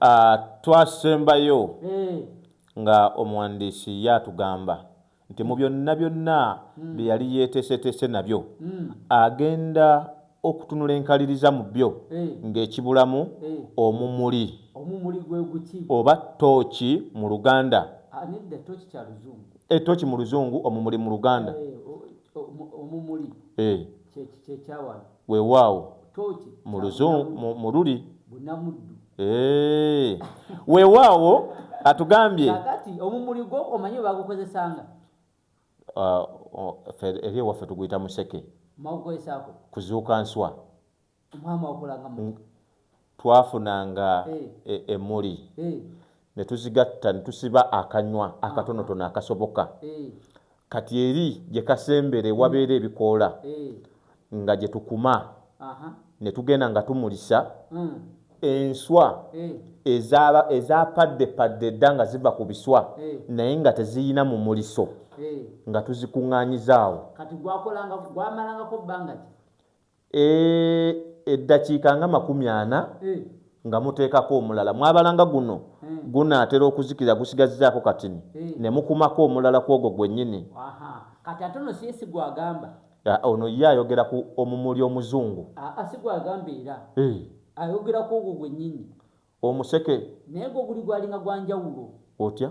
Ah, twasembayo eh. nga omuwandiisi ye atugamba nti mu byonna byonna hmm. bye yali yeeteeseteese nabyo hmm. agenda okutunula enkaliriza mu byo eh. ng'ekibulamu eh. omumuli oba tooki mu luganda ah, etooki mu luzungu omumuli mu luganda Weewaawo. Tooki. Mu luzungu, mu luli. Bunamuddu. Eee. Weewaawo, atugambye. Kakati, omumuli gwo omanyi webagukozesanga? Uh, eri ewaffe tuguyita museke. Mawukoesaako. Kuzuuka nswa. Omwami wakolanga mu. twafunanga e, emuli ne tuzigatta ne tusiba akanywa akatonotono akasoboka kati eri gye kasembere wabeera ebikoola nga gye tukuma ne tugenda nga tumulisa hmm. enswa hmm. ezaapaddepadde dda nga ziva ku biswa hmm. naye nga teziyina mu muliso nga tuzikuŋŋaanyiza awo Eh, eddakiika nga makumi ana eh. nga muteekako omulala mwabalanga guno eh. gunaatera okuzikira gusigazzaako katini ne mukumako omulala ku ogwo gwennyini kati ate ono siye sigwagamba ah, ono ye ayogera ku omumuli omuzungu ah, ah, sigwagamba era ayogera ku ogwo gwennyini omuseke naye gwo guli gwalinga gwanjawulo otya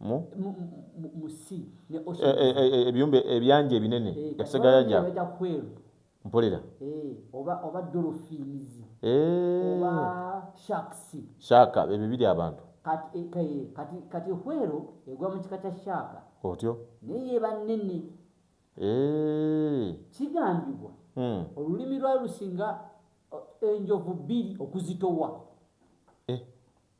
mu e, e, e, ebiyumba ebyanja ebinene ebisegayaja mpulira shaaka ebyo biri abantu kati hwero egwa mu kika kya shaaka otyo naye yeba nene kigambibwa hmm. olulimi lwalusinga enjovu bbiri okuzitowa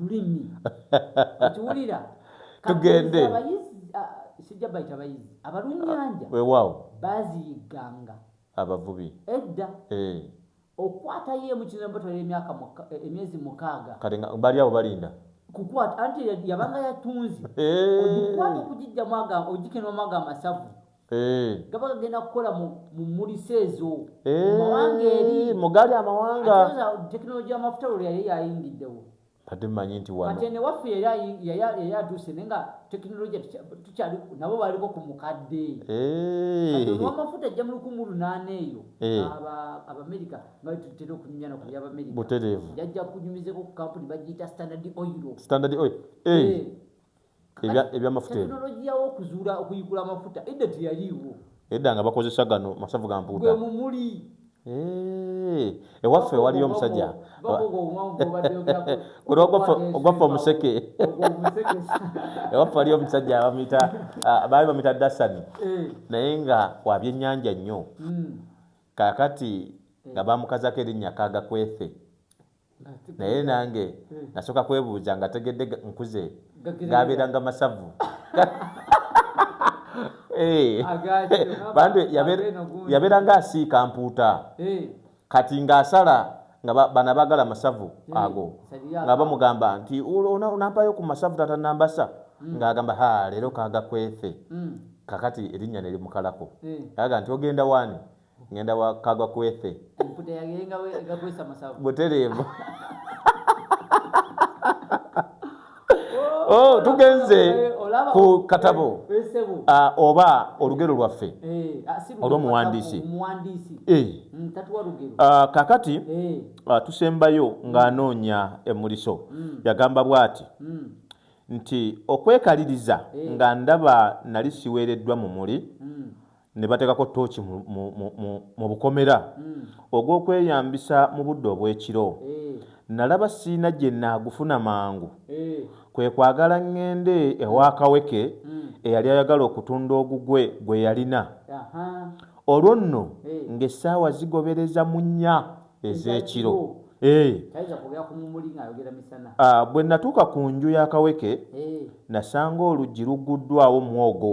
lulimi ekiwulira tugende abayizi sijja bayita bayizi abalunnyanja wewaawo baziyigganga abavubi edda eh. okwata ye mu kizibu batwala emyaka eh, emyezi mukaaga kati nga bali awo balinda kukwata anti yabanga yatunzi eh. ogikwata okugijjamu agamba ogikenwamu agamba masavu Eh. gaba gagenda kukola mu mmulisa ezo eh, mumawanga eri mugali amawanga tekinologi amafuta lwe yali yayingiddewo ate manyi nti wate newaffe yali atuuse naye nga tekinologi tukyali nabo baliko ku mukadde eh. amafuta ajja mu lukumu lunaana eyo abamerika nga tutera okunyumya naku byabamerika butereevu jajja kunyumizeko ku kampuni bagiyita standard oil standard oil ebyamafuta tekinologiya wokuzuula okuyigula amafuta edda teyaliiwo edda nga bakozesa gano masavu ga mpuuta mumuli ewaffe waliyo omusajja ogwaffe omuseke ewaffe waliyo omusajja bamuyita ah, baali bamuyita dasani eh. naye nga wabyennyanja nnyo hmm. kakati nga bamukazako erinnya kagakwethe naye nange nasoka kwebuuza nga tegedde nkuze gabeeranga masavu eh. bantu yabeeranga asiika mpuuta eh. kati ngaasala nga bana bagala masavu eh, ago nga bamugamba nti onampayo ku masavu tata nambasa hmm. ngaagamba ha leero kaga kwefe hmm. kakati erinnya nerimukalako aga nti ogenda waani ngenda wa kagwa kwethe mputa yagenga we gakwesa masabu buterebo oh, oh tugenze ku katabo eh, eh, ah, oba olugero lwaffe eh, ah, olwomuwandiisi mm, ah, kakati tusembayo ng'anoonya emuliso mm. yagamba bwati mm. nti okwekaliriza nga ndaba nali siweereddwa mu muli ne bateekako tooki mu, mu, mu, mu, mu bukomera mm. ogw'okweyambisa mu budde obw'ekiro mm. nalaba siina gye naagufuna mangu mm. kwe kwagala ŋŋende ewa kaweke mm. eyali ayagala okutunda ogugwe gwe yalina olwo nno eh. ng'essaawa zigobereza mu nnya ez'ekiro eh. ah, bwe natuuka ku nju ya kaweke eh. nasanga oluggi lugguddwawo mwogo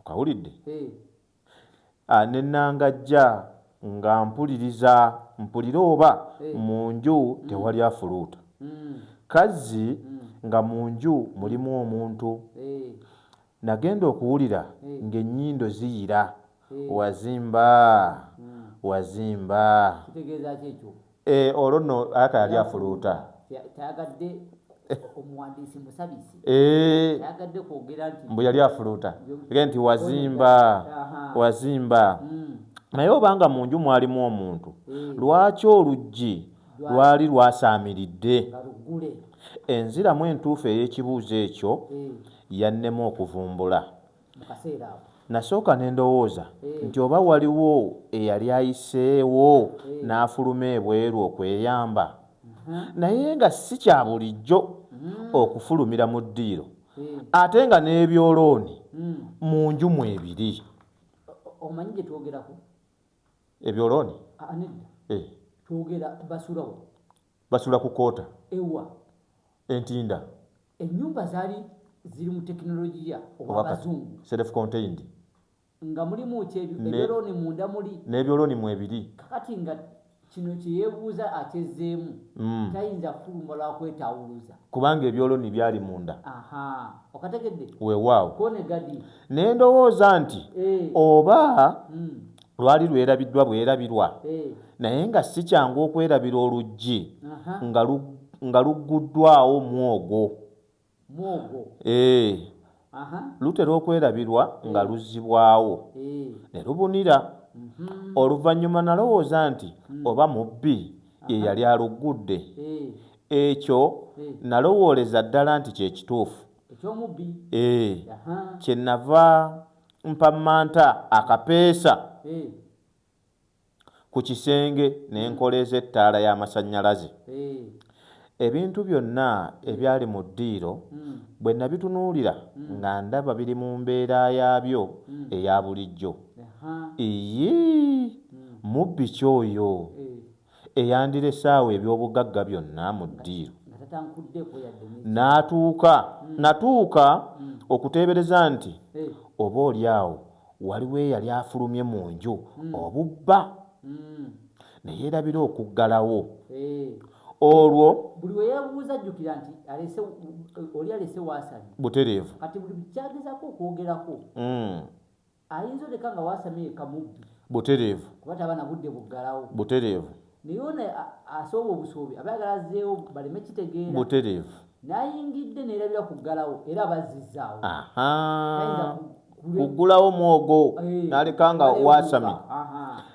okawulidde eh. ah, ne nangajja nga mpuliriza mpulire oba eh. mu nju mm. tewali afuluuta mm. kazzi mm. nga mu nju mulimu omuntu eh. nagenda okuwulira ng'ennyindo ziyira wazimba wazimba Eh, olwo nno aka yali afuluuta tayagadde omuwandiisi musabisi eh. tayagadde kwogera nti mbu yali afuluuta ge nti wazimba wazimba hmm. naye obanga mu nju mwalimu omuntu eh. lwaki oluggi lwali lwasaamiridde enziramu entuufu ey'ekibuuzo ekyo yannema okuvumbula Nasooka ne ndowooza eh. nti oba waliwo eyali ayiseewo eh. n'afuluma ebweru okweyamba, uh-huh. naye nga si kya bulijjo mm. okufulumira mu ddiiro eh. ate nga n'ebyolooni mm. mu nju mu ebiri. Omanyi gye twogerako ebyolooni? Ah, ah, Basula ku Kota ewa. E Ntinda. Ennyumba zaali ziri mu tekinologiya owa bazungu. Self contained. Nga mulimu ki ebyolooni munda muli. N'ebyolooni mwebiri. Kakati nga kino kye yeebuuza akyezzeemu. Mm. Tayinza kufuluma lwa kwetaawuluza. Kubanga ebyolooni byali munda. Aha. Okategedde? Weewaawo. Ko ne gadi. Ne ndowooza nti eh. oba mm. Lwali lwerabiddwa bwerabirwa naye nga si kyangu okwerabira oluggi nga lugguddwawo mwogo. Eeh, lutera okwerabirwa nga luzzibwawo ne lubunira. Oluvannyuma nalowooza nti oba mubbi ye yali aluggudde. Ekyo nalowooleza ddala nti kye kituufu. Eeh, kye nava. mpammanta akapeesa ku kisenge ne nkoleeza ettaala y'amasannyalaze. Ebintu byonna ebyali mu ddiiro bwe nabitunuulira nga ndaba biri mu mbeera yaabyo eya bulijjo. Iyii! Mubbi ki oyo? eyandirese awo eby'obugagga byonna mu ddiiru, natuuka, natuuka okuteebereza nti oba oli awo waliwo eyali afulumye mu nju obubba, ne yeerabira okuggalawo. Olwo. Buli we yeebuuza ajjukira nti alese, oli alese w'asabye. Butereevu. Kati buli ky'agezaako okwogerako. ayinza oleka nga wasamye yekka mubbi butereevu kuba taba na budde buggalawo butereevu naye ono asooba obusuubi aba yagala azzeewo baleme kitegeera butereevu n'ayingidde neerabira ku ggalawo era bazzizaawo kuggulawo mwogo eh, n'aleka nga wasamye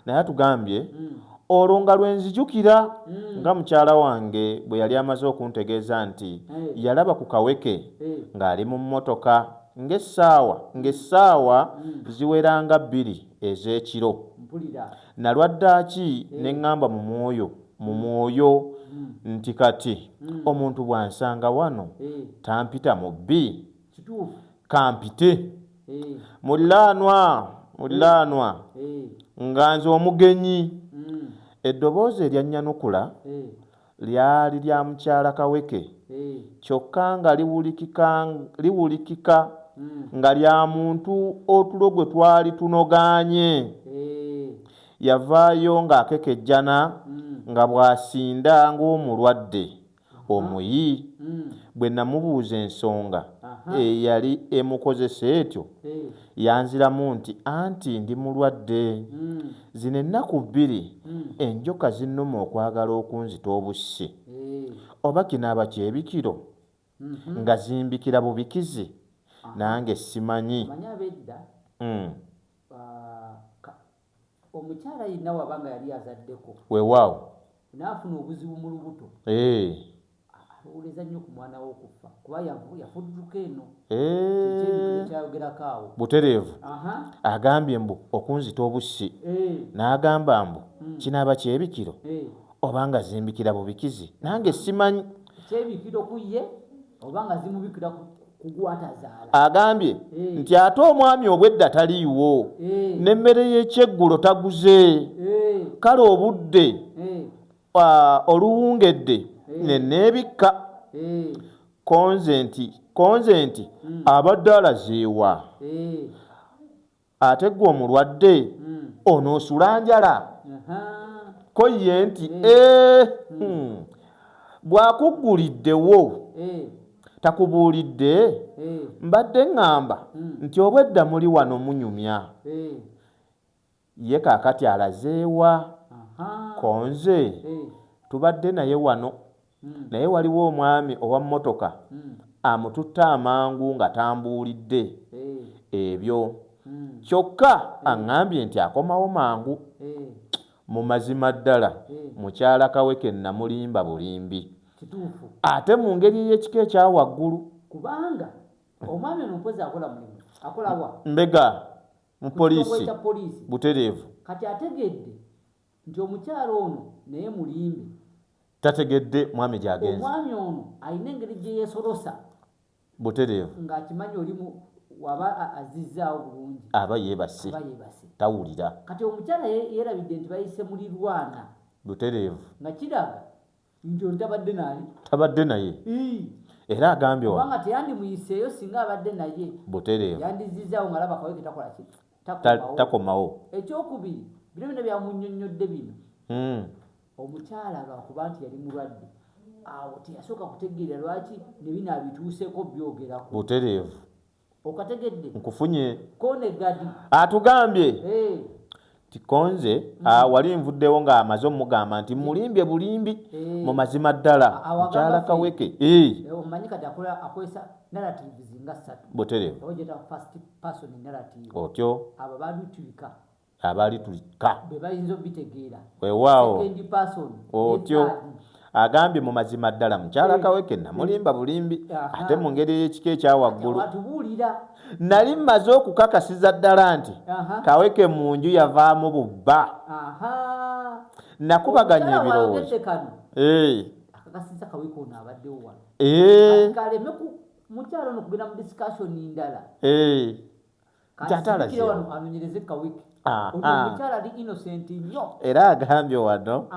naye atugambye hmm. olwo nga lwe nzijukira hmm. nga mukyala wange bwe yali amaze okuntegeeza nti eh. yalaba ku kaweke eh. ng'ali mu mmotoka Ng'essaawa, ng'essaawa ziwera nga bbiri ez'ekiro, nnalwa ddaaki ne ŋŋamba mu mwoyo, mu mwoyo nti, Kati, omuntu bw'ansanga wano, tampita mubbi? K'ampite. Muliraanwa, muliraanwa, nga nze omugenyi. Eddoboozi eryanyanukula, lyali lya mukyala Kaweke kyokka nga liwulikika nga lya muntu otulo gwe twali tunogaanye. Yavaayo ng'akekejjana nga bw'asinda ng'omulwadde omuyi. Bwe namubuuza ensonga eyali emukozesa etyo Yanziramu nti, Anti ndi mulwadde. Zino ennaku bbiri enjoka zinnuma okwagala okunzita obussi. Oba kinaaba kyebikiro? Nga zimbikira bubikizi nange simanyi. Omanyi ab'edda Omukyala yenna waba nga yali azaddeko. Wewaawo. N'afuna obuzibu mu lubuto. Eeh. Alowooleza nnyo ku mwana we okuffa kuba yafudduka eno. Eeh. Butereevu. Agambye mbu okunzita obussi. N'agamba mbu hmm. kinaaba kyebikiro oba nga zimbikira bubikizi nange simanyi. Kyebikiro ku ye. agambye eh. nti ate omwami obwedda taliiwo eh. n'emmere y'ekyeggulo taguze eh. kale obudde oluwungedde neneebikka konze nti konze nti hmm. abadde alazeewa ate gwe omulwadde onoosula njala ko ye nti ee hmm. bw'akugguliddewo eh. takubuulidde eh. mbadde ŋŋamba hmm. nti obwedda muli wano munyumya eh. ye kaakati alazeewa konze tubadde naye wano hmm. naye waliwo omwami owa mmotoka hmm. amututte amangu nga tambuulidde eh. ebyo hmm. kyokka eh. aŋŋambye nti akomawo mangu eh. mu mazima ddala mukyala kaweke namulimba bulimbi ate mu ngeri ey'ekika ekya waggulu kubanga omwami ono mpozi akola mulimu akolawa mbega mu poliisi butereevu kati ategedde Nti omukyala ono naye mulimbe. Tategedde mwami gyagenze. Omwami ono alina engeri gye yesolosa. Butereevu. Nga akimanyi oli mu waba azizzaawo bulungi. Aba yeebase. Aba yeebase. Tawulira. Kati omukyala yeerabidde nti bayise mulirwana. Butereevu. Nga kiraga nti oli tabadde naye tabadde naye era agambye wabanga teyandimuyiseeyo singa abadde naye butereevu yandizizaawo nga laba kaweke takola ki takomawo ekyokubiri bino bino byamunyonnyodde bino hmm. omukyala lwakuba nti yali mulwadde awo teyasooka kutegeera lwaki ne bino abituuseeko byogerako butereevu okategedde nkufunye konegadi atugambye hey. tikonze mm. ah, wali nvuddewo nga amaze omugamba nti mulimbye bulimbi hey. Eh. mu mazima ddala mukyala kaweke hey. Eh. Eh, omanyi kati akola akozesa narratives nga ssatu buterevu otyo abo balutulika abaali tulikka wewaawo otyo agambye mu mazima ddala mukyala eh. kaweke namulimba bulimbi ate mu ngeri ey'ekika ekya waggulu nali mmaze okukakasiza ddala nti kaweke mu nju yavaamu bubba nakubaganya ebirowoozo nti ate alazeewo ah, ah. era agambye wano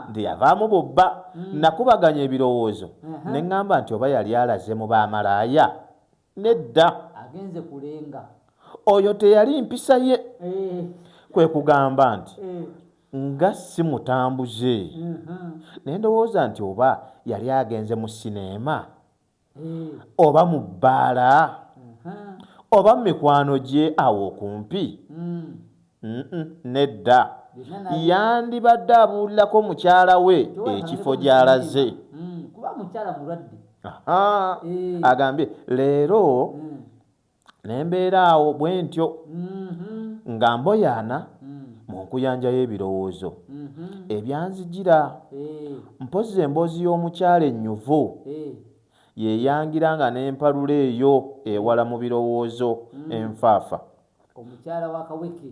nti yavaamu bubba hmm. nakubaganya ebirowoozo ne ŋŋamba nti oba yali alaze mu bamalaaya nedda oyo teyali mpisa ye eh. kwe kugamba nti eh. nga si mutambuze mhm. ne ndowooza nti oba yali agenze mu sineema oba mu bbaala oba mu mikwano gye awo okumpi nedda yandibadde abuulirako mukyala we ekifo gy'alaze agambye leero Ne mbeera awo bwe ntyo, nga mboyaana mu nkuyanja y'ebirowoozo ebyanzijira. Mpozzi emboozi y'omukyala ennyuvu ye yangira nga n'empalula eyo ewala mu birowoozo enfaafa.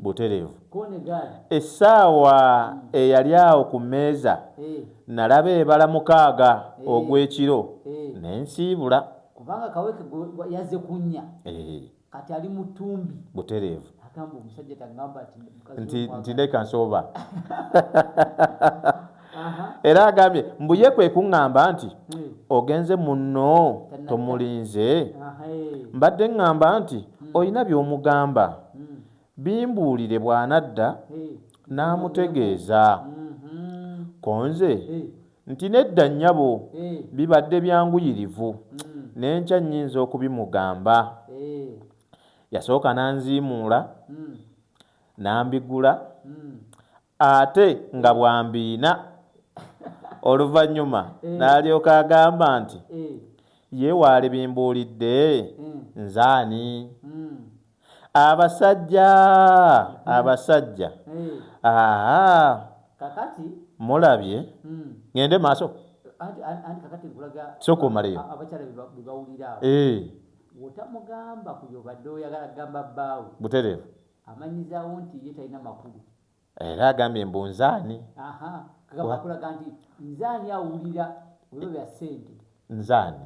Butereevu, essaawa eyali awo ku mmeeza nnalaba ebala mukaaga ogw'ekiro, ne nsiibula. kubanga kaweke yaze kunya eh. kati ali mutumbi butereevu agamba omusajja tagamba nti leka nsooba era agambye mbu ye kwe kuŋŋamba nti hmm. ogenze munno tomulinze eh. mbadde ŋŋamba nti hmm. olina by'omugamba hmm. bimbuulire bw'anadda n'amutegeeza konze Nti, Nedda, nnyabo. Bibadde byanguyirivu. Ne nkya nnyinza okubimugamba. Yasooka n'anziimuula, n'ambigula, ate nga bw'ambiina. Oluvannyuma n'alyoka agamba nti, Ye waalibimbuulidde? Nze ani? abasajja hmm. abasajja hmm. aa kakati mulabye hmm. ngende maaso soka omaleyo eh. otamugamba kuyo badde oyagala kugamba bbaawe butereevu amanyizawo nti ye talina makulu era agambye mbu nzaani kulaga nti nzaani awulira ebyo bya sente nzaani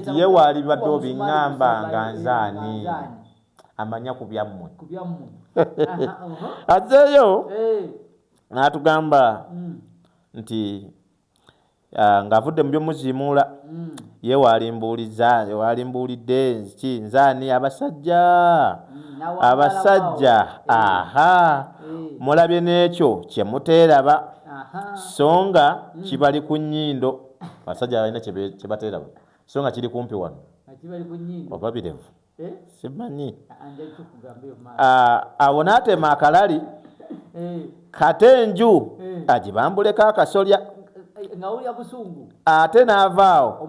nti ye waalibadde obiŋŋamba nga nze ani amanya ku byammwe azzeeyo eh. n'atugamba hmm. nti ah, ng'avudde mu byomuziimuula hmm. ye waalimbuuliza waalimbuulidde ki nze ani abasajja hmm, abasajja aha eh. mulabye n'ekyo kye muteeraba so nga kibali ku nnyindo abasajja balina kye bateera bwe so nga kiri kumpi wano oba birevu eh? simanyi awo n'atema akalali eh. kate enju eh. agibambuleko akasolya ate n'avaawo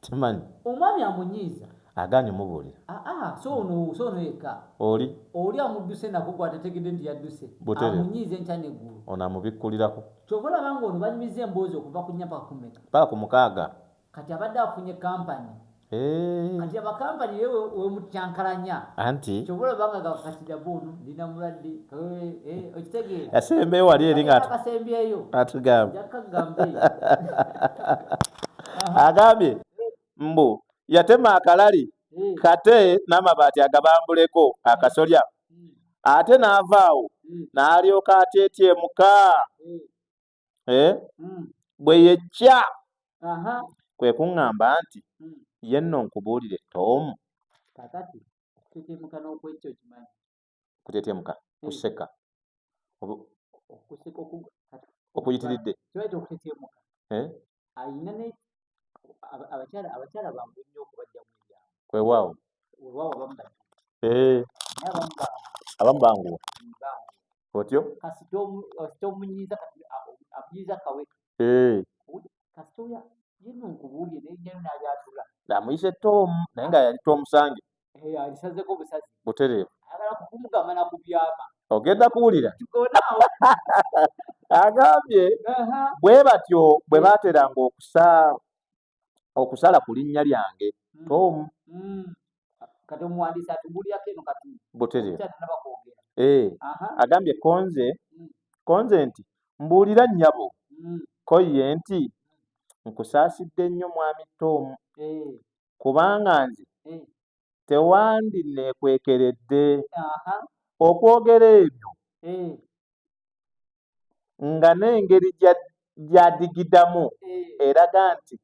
Temanyi. Omwami amunyiiza. Aganye omubulira. Aa so ono so ono yeka. Oli. Oli amuduse nako gwa tategede nti yaduse. Butere. Amunyiiza enkya ne gulu. Ono amubikulirako. Kyova olaba nga ono banyumiza emboozi okuva ku nya paka ku meka. Paka ku mukaaga. Kati abadde afunye company. Eeh. Kati aba company ye wemutyankalanya. Anti. Kyova olaba nga ga kati dabo ono ndina mulwadde. Eeh eeh okitegeera. Yasembeyo wali eri nga. Akasembyeyo. Atugamba. Yakka gamba eyo. agambye mbu yatema akalali hmm. kate n'amabaati agabambuleko akasolya hmm. ate n'avaawo hmm. n'alyoka atyetyemuka eh? bwe yekya kwe kuŋŋamba nti ye nno nkubuulire toomu okutetemuka hmm. kuseka okuyitiridde eh? kwewaawo eh. abamu banguwa otyo amuyise tomu naye nga yali tomusange alisazeko busazi butereevu agala kukumugamba nakubyama ogenda kuwulira agambye bwe batyo bwe baateranga okusa okusala ku linnya lyange mm. tomu mm. kati omuwandiisi atubulirako eno kati butereevu eh, agambye konze mm. konze nti mbuulira nnyabo ko ye nti nkusaasidde nnyo mwami tomu eh. kubanga nze eh. tewandinneekwekeredde okwogera ebyo eh. nga n'engeri gyadigidamu eh. eraga nti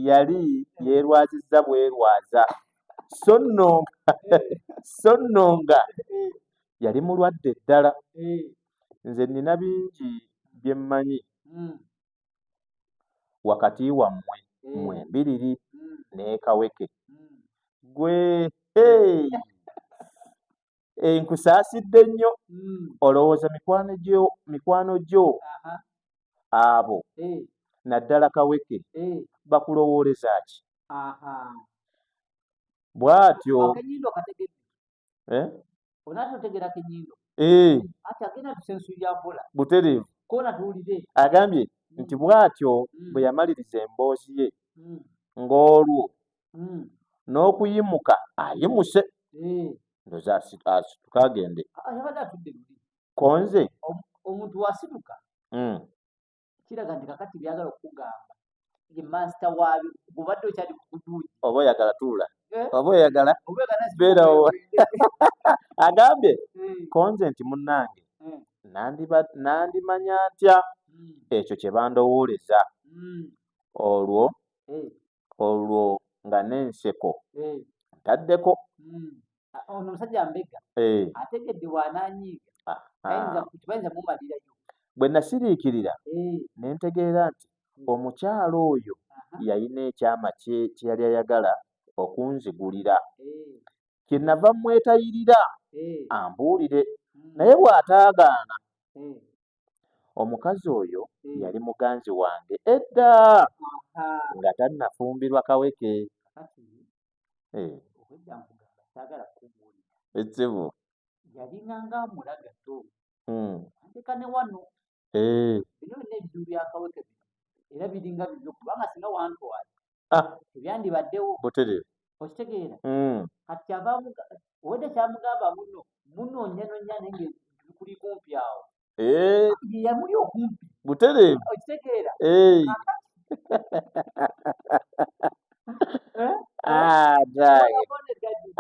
yali yeerwazizza bwerwaza so nno so nno nga yali mulwadde ddala nze nnina bingi bye mmanyi hmm. wakati wammwe mmwe mm. mbiriri mm. n'ekaweke mm. gwe eh, nkusaasidde nnyo olowooza mikwano gyo abo eh. naddala kaweke eh. bakulowooleza ki bw'atyo eh? eh. butereevu agambye mm. nti bw'atyo mm. bwe yamaliriza emboozi ye mm. ng'olwo n'okuyimuka ayimuse ndoza asituka agende ah, konze omuntu wasituka kiraga nti kakati byagala okugamba ye master waabyo gubadde okyali kukuduuji oba oyagala tuula eh? oba oyagala beerawo agambye hmm. konze nti munnange hmm. nandimanya ntya hmm. ekyo kye bandowooleza olwo olwo nga n'enseko ntaddeko ono omusajja mbega eh. ategedde wananyiiga ah, ah. bayinza mumalirayo bwe nasiriikirira eh. ne ntegeera nti hmm. omukyala oyo yalina ekyama kye kye yali ayagala okunzigulira eh. kye nava mmwetayirira ambuulire hmm. naye bw'ataagaana hmm. omukazi oyo yali muganzi wange edda nga tannafumbirwa kaweke Eh, obwedda nkugamba saagala kukubuulira ekkibu yalina ng'amula gato Hmm. anteka ne wano Eh, bino byonna ebizibu byakaweke bino era biringa bizibu kubanga singa wantwala ah, tebyandibaddewo butereevu okitegeera Hmm. kati kyava amuga- obwedda kyamugamba muno munoonyanonya naye nga bikuli kumpi awo Eh. yamuli okumpi butereevu okitegeera eh. ah,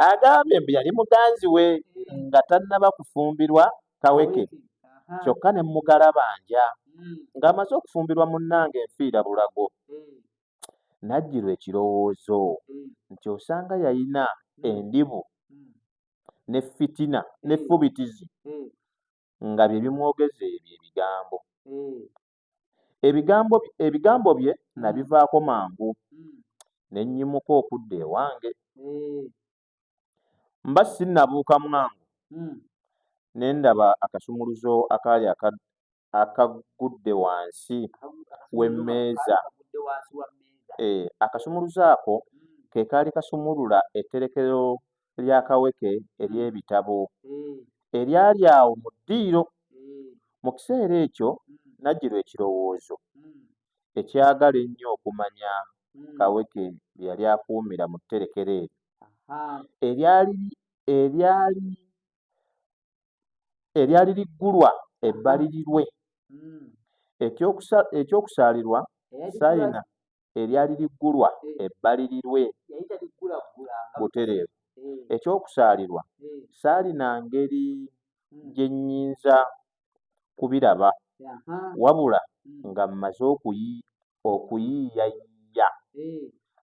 agambye mbu yali muganzi we nga tannaba kufumbirwa kaweke kyokka ne mugalabanja hmm. ng'amaze okufumbirwa munnange enfiira bulago hmm. najjirwa ekirowoozo hmm. nti osanga yalina endibu ne fitina ne fubitizi nga bye bimwogeza ebyo ebigambo. Ebigambo ebigambo bye nabivaako mangu ne nnyimuka okudda ewange. Mba sinnabuuka mwangu ne ndaba akasumuluzo akaali aka akaggudde wansi w'emmeeza. Hee, akasumuluzo ako ke kaali kasumulula etterekero lya Kaweke ery'ebitabo eryali awo mu ddiiro. Mu kiseera ekyo nnajjirwa ekirowoozo ekyagala ennyo okumanya Kaweke bye yali akuumira mu tterekero eryo eryali eryali eryali liggulwa ebbalirirwe. Eky'okusa eky'okusaalirwa Sayina eryali liggulwa ebbalirirwe butereevu. Eky'okusaalirwa, saalina ngeri gye nnyinza kubiraba wabula nga mmaze okuyiiyayiiya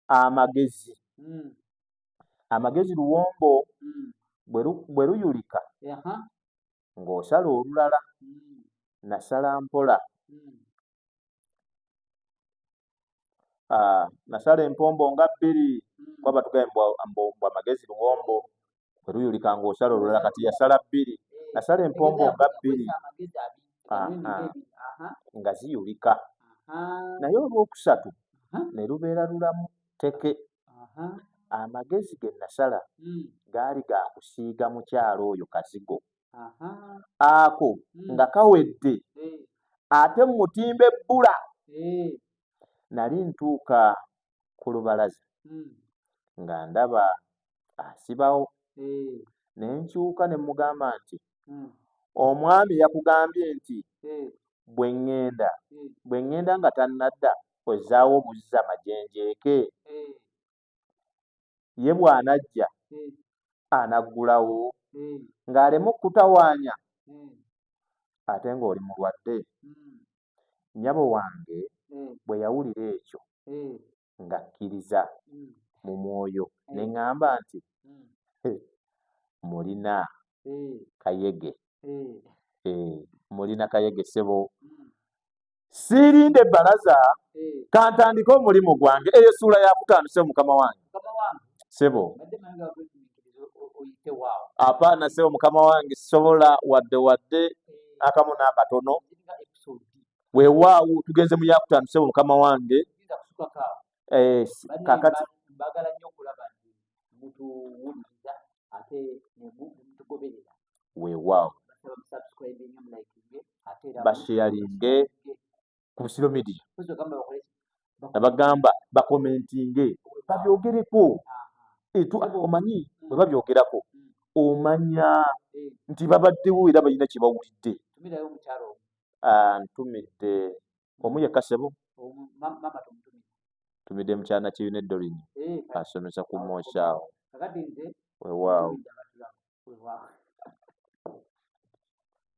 amagezi. Amagezi luwombo, bwe luyulika ng'osala olulala nasala mpola ah, nasala empombo nga bbiri kuba batugaye mbu amagezi luwombo kwetuyulika ng'osala olulala kati yasala bbiri nasala empombo nga bbiri nga ziyulika naye olwokusatu ne lubeera lulamu teke Amagezi ge nnasala gaali ga kusiiga mukyala oyo kazigo ako nga kawedde ate mmutimbe bbula. Nali ntuuka ku lubalaza nga ndaba asibawo ne nkyuka ne mmugamba nti, Omwami yakugambye nti bwe ŋŋenda nga tannadda ozzaawo obuzza majenjeeke hmm. ye bw'anajja hmm. anaggulawo hmm. ng'aleme okutawaanya ate ng'oli mulwadde nnyabo wange bwe yawulira ekyo ng'akkiriza mu mwoyo ne ŋŋamba nti mulina kayege eh, mulina kayege sebo hmm. siirinde balaza hmm. kantandike omulimu gwange eyo esuula yakutaano sebo mukama wange sebo apaana sebo mukama wange sobola wadde wadde hmm. akamu n'akatono wewaawo tugenze mu yakutaano sebo mukama wange eh, kakati bagala nnyo okulaba nti mutuwuliriza ate nemutugoberera weewaawo basheyalinge ku busiro media abagamba bakomentinge babyogereko omanyi bwe babyogerako mm. omanya eh. nti babaddewo era balina kye bawulidde ah, ntumidde omu yekka sebo tumidde mukyana kibi ne dorin eh, asomesa ku moshaawo wewaawo